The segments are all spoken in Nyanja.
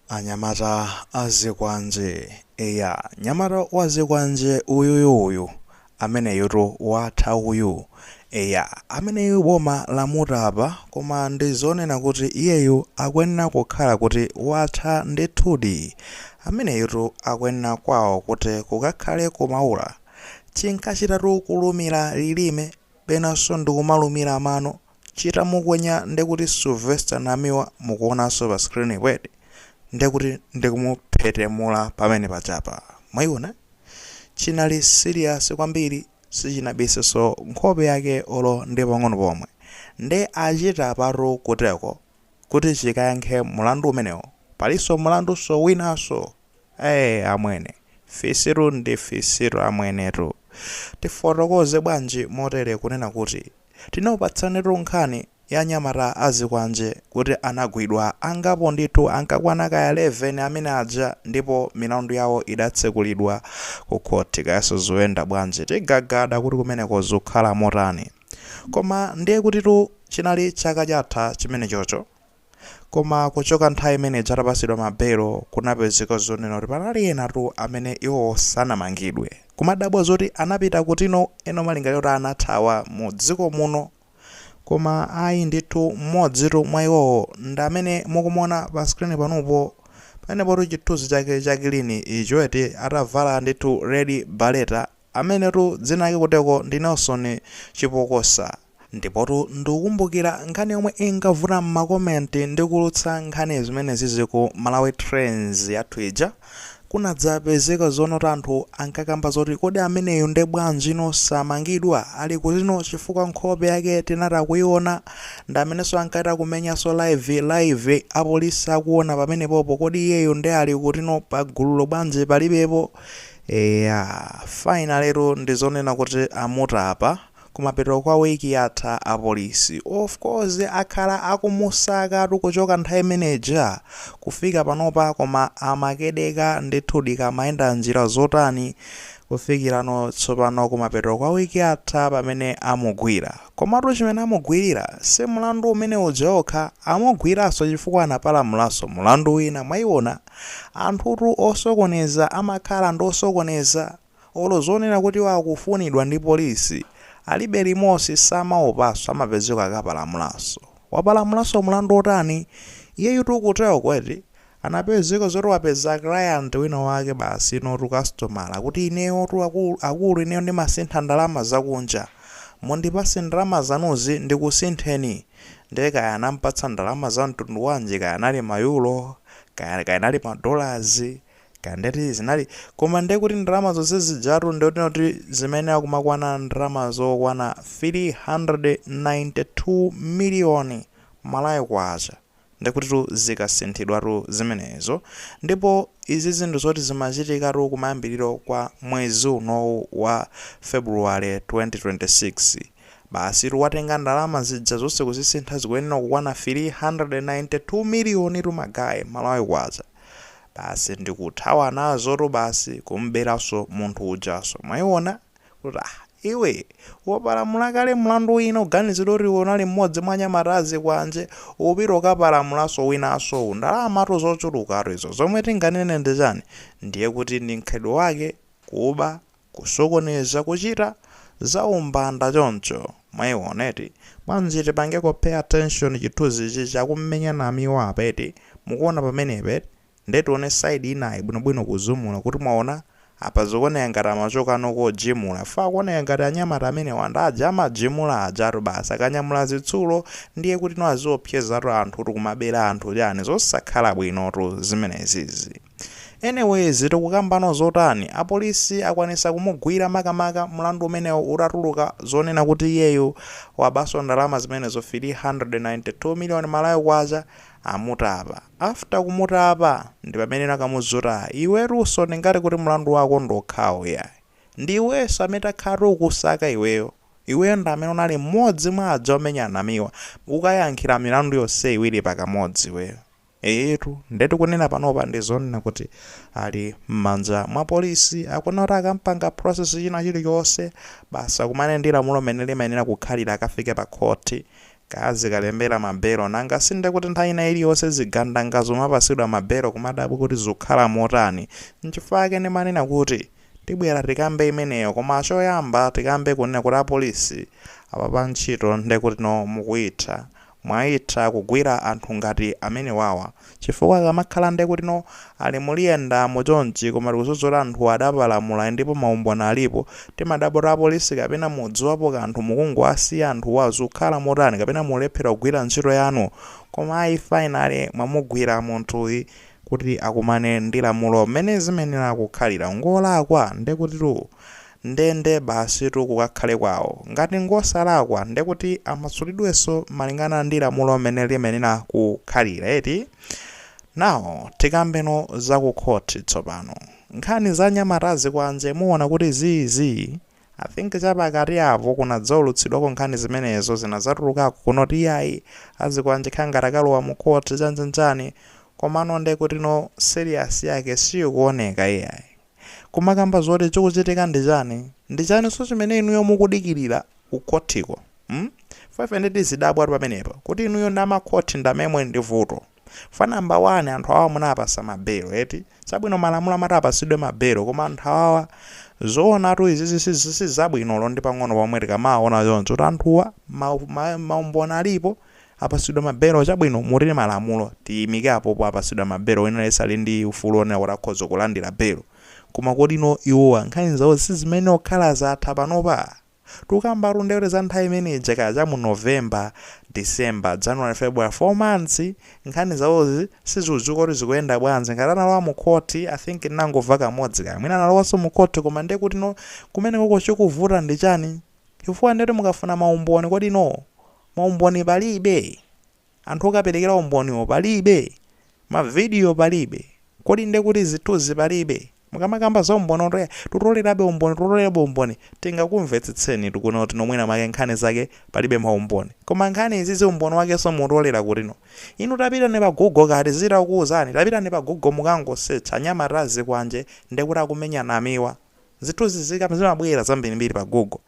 Anyamata a zikwanje. Eya, nyamata wa zikwanje uyuyu uyu. Ameneyutu watha uyu. Eya, ameneyu boma lamutapa koma ndi zonena kuti iyeyu akuyenera kukhala kuti watha ndithudi. Ameneyutu akuyenera kwawo kuti kukakhale ku Maula. Chinkachitatu kulumira lilime, penanso ndi kumalumira mano. chitamukwenya ndekuti Sylvester Namiwa mukuonanso pa screen wed ndekuti ndikumuphetemula pamene pajapa mwaiona chinali serious kwambiri sichinabisenso nkhope yake olo ndi pang'ono pomwe nde achita patu kuteko kuti chikayankhe mulandu umenewo palinso mulandunso winanso Ee amwene, fisitu ndi fisi amwenetu. Tifotokoze bwanji motere kunena kuti, tinakupatsanitu nkhani ya nyamata a zikwanje kuti anagwidwa angapo ndithu ankakwana kaya 11 amene aja ndipo milandu yawo idatsekulidwa ku khothi kayaso zikuyenda bwanji tigagada kuti kumeneko zikukhala motani. Koma ndiye kutitu chinali chaka chatha chimenechocho. Koma kuchoka nthawi imene ija atapatsidwa ma belo kunapezeka zonena kuti panali ena tu amene iwowo sanamangidwe. Kumadabwa zoti anapita kuti no ena malingaliro kuti anathawa mu dziko muno. Koma ayi ndithu mmodzi tu mwa iwowo ndi amene mukumuona pa screen panopo. Pamenepotu chithunzi chake cha kilini icho eti atavala ndithu red barretta. Amenetu dzina lake kuteko ndi Nelson Chipokosa. Ndipotu ndikukumbukira nkhani yomwe inkavuta m'makoment ndikulutsa nkhani zimene zizi ku Malawi Trends yathu ija, kunadzapezeka zonena kuti anthu ankakamba zoti kodi ameneyu nde bwanjino samangidwa ali kutino chifukwa nkhope yake tinachita kuiona, ndamenenso ankachita kumenyanso live live apolisi akuona pamenepopo kodi iyeyu nde ali kutino pagululo bwanji palibepo Eya, finally-tu ndizonena kuti amutapa, kumapeto kwa week yatha apolisi of course akhala akumusakatu kuchoka nthawi imene ija kufika panopa koma amakedeka ndithudi ka amayenda njira zotani kufikirano tsopano kumapeto kwa week yatha pamene amugwira komatu chimene amugwirira si mlandu umene uja okha amugwiranso chifukwa anapalamulanso mlandu wina mwaiona Anthutu osokoneza amakhala ndi osokoneza. Olo zonena kuti iwo akufunidwa ndi police alibe limodzi samaopaso amapezeka akapalamulaso. Wapalamulaso mulandu otani? Iyeyutu kuteko eti? Anapezeka zoti wapeza client wina wake basi inotu customer kuti ineyotu akulu akulu ineyo ndimasintha ndalama zakunja. Mundipase ndalama zanuzi ndikusintheni. Nde kaya anampatsa ndalama za mtundu wanji kaya anali ma euro kaya anali ma dollars kaya ndi ziti zinali koma ndiye kuti ndalama zonse zijatu ndiye kuti kuti zimene akumakwana ndalama zokwana 392 miliyoni malawi kwacha ndiye kuti tu zikasinthidwatu zimenezo ndipo izi nzinthu zoti zimachitikatu kumayambiriro kwa mwezi unowu wa february 2026 Basitu watenga ndalama zija zonse kuzisintha zikuyenera kukwana 392 miliyonitu ma guys, Malawi Kwacha. Basi ndikuthawa nazotu basi kum'beranso munthu ujanso. Mwaiona? Kuti ah iwe wapalamula kale mlandu wina uganiziridwa kuti iwe unali mmodzi mwa anyamata azikwanje upita ukapalamulanso winanso uwu. Ndalamatu zochulukatu izo. Zomwe tinganene ndi chani? Ndiye kuti ndi mkhalidwe wake kuba kusokoneza kuchita zaumbanda choncho mwaiona eti bwanji tipangeko pay attention chithunzichi cha omenya anamiwa apa eti mukuona pamenepa eti nde tione side inayi bwinobwino kuzumula kuti mwaona apa zikuoneka ngati amachokano kojimula chifukwa akuoneka ngati anyamata amenewa ndi aja amajimula ajatu basi akanyamula zitsulo ndiye kutino aziopsezatu anthutu kumabera anthu chani zosakhala bwinotu zimenezizi. Anyways tikukambano zotani? Apolisi akwanisa kumugwira makamaka mlandu umenewo utatuluka zonena kuti iyeyo wabaso ndalama zimenezo 392 million Malawi kwacha amutapa. After kumutapa ndipameneno akumuuza kuti ah iwetuso ndingati kuti mlandu wako ndi wokhawo iyayi. Ndiiweso amene takhala tikukusaka iweyo. Iweyo ndamene unali mmodzi mwa aja omenya anamiwa. Ukayankhira milandu yonse iwiri pakamodzi iweyo. Eeetu nde tikunena panopa ndi zonena kuti ali mmanja mwa police akufuna kuti akampanga process china chilichonse basi akakumane ndi lamulo mmene limayenera kukhalira akafike pa khothi kaya azikalembera ma belo nanga si nde kuti nthawi ina ili yonse zigandanga zomapasidwa ma belo kumadabwa kuti zukhala motani nchifukwa chake ndimanena kuti tibwera tikambe imeneyo koma choyamba tikambe kunena kuti a police apapa ntchito nde kuti no mukuitha Mwaitha kugwira anthu ngati amenewawa chifukwa akamakhala ndekutino ali mmaliyenda mo chonchi koma tikudziwa kuti anthuwa adapalamula ndipo maumboni alipo timadabwa kuti apolisi kapena mudziwapo kanthu mukungowasiya anthuwa zukhala motani kapena mulephera kugwira ntchito yanu koma ayi finally mwamugwira munthuyi kuti akumane ndi lamulo mmene zimayenera kukhalira ngolakwa ndekutitu Nde nde basitu kukakhale kwawo. Ngati ngosalakwa ndekuti amasulidwenso malingana ndi lamulo mene limayenera kukhalira eti? Now tikambeno za ku court tsopano. Nkhani za anyamata azikwanje muona kuti zii zii? I think chapakati apo kunadzaulutsidwako nkhani zimenezo zinadzatulukako kunoti iyayi azikwanje kukhala ngati akalowa mu court chanichani komano ndekutino serious yake siikuoneka iyayi. kumakamba zoti chikuchitika ndi chani? Ndi chaninso chimene inuyo mukudikilira ku khothiko? mm? Ifa ife nde tizidabwatu pamenepa kuti inuyo ndi amakhothi ndi amene muli ndi vuto. Ifa number 1 anthu awawa munawapasa ma bail eti? Chabwino malamulo amati apasidwe ma bail koma anthu awawa zoonatu izizi sizabwino olo ndi pang'ono pomwe tikamawawona choncho kuti anthuwa ma ma maumboni alipo, Apatsidwa ma belo, chabwino, mutini malamulo, tiyimike apopo, apatsidwa ma belo, wina aliyense ali ndi ufulu wonena kuti akhoza kulandira belo. Koma kodino iwowa nkhani zawo sizimayenera kukhala zatha panopa? Tukambatu ndiye kuti za nthawi imene ija kaja mu November, December, January, February, 4 months nkhani zawozi sizikudziwika kuti zikuyenda bwanji. Ngati analowa mu court, I think tinangomva kamodzi kaya mwina analowanso mu court koma ndiye kutino kumenekoko chikuvuta ndi chani? Chifukwa ndiye kuti mukafuna ma umboni kodino Ma umboni palibe? Anthu okaperekera umboniwo palibe? Ma video palibe? Kodi nde kuti zithunzi palibe? Mukamakamba za umboni oti eya tutolerabe umboni tutolerabe umboni tingakumvetsetsenitu kunena kuti no mwina mwake nkhani zake palibe ma umboni. Koma nkhani izizi umboni wakenso muutolera kuti no? Inu tapitani pa Google kaya tizichita kukuuzani? Tapitani pa Google mukangosearch anyamata azikwanje ndekuti akumenya Namiwa. Zithunzi zikam zimabwera zambirimbiri pa google.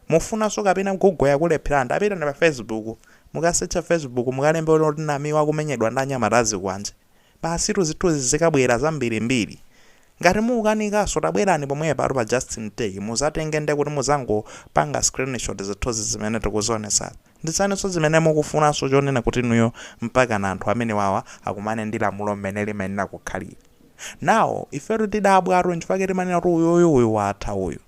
Mufunanso kapena google yakulepherani tapitani pa facebook mukasecha facebook mukalembe kuti Namiwa akumenyedwa ndi anyamata azikwanje basitu zithunzi zikabwera zambirimbiri. Ngati mukukanikanso tabwerani pomwepatu pa justin tech muzatenge ndekuti muzangopanga screenshot zithunzi zimene tikuzionetsazi. Ndi chaninso zimene mukufunanso chonena kuti inuyo mpakana anthu amenewawa akumane ndi lamulo mmene limayenera kukhalira. Now ifetu tidabwatu nchifukwa chake timanena kuti uyuyu uyu watha uyu.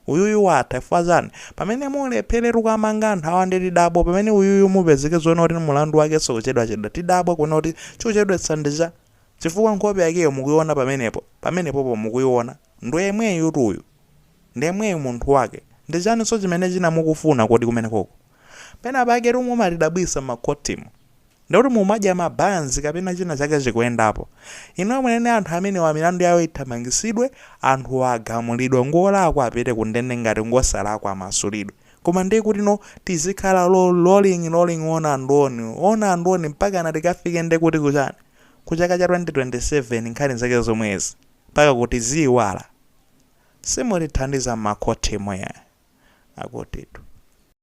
Uyuyu watha ifa chani? Pamene mulephere kuwamanga anthu awa nde tidabwa pamene uyuyu mupezeke zoona kuti mulandu wakenso kuchedwachedwa tidabwa kuona kuti chikuchedwetsa ndi cha chifukwa nkhope yakeyo mukuiona pamenepo pamenepopo mukuiona ndi yemweyutu uyu. Ndi yemweyu munthu wake. Ndichaninso chimene china mukufuna kodi kumenekoko? Pena paketu mumatidabwisa m'makhotimo. Ndekuti mumadya ma banzi kapena china chake chikuyendapo. Inuyo muyenera anthu amenewa milandu yawo ithamangisidwe, anthuwa agamulidwe ngolakwa apite kundende ngati ngosalakwa amasulidwe. Koma ndekutino tizikhala rolling rolling on and on, on and on mpakana tikafike ndekuti kuchani? Kuchaka cha 2027 nkhani zake zomwezi. Mpaka kuti tiziyiwala? Simutithandiza makhotimo akutitu.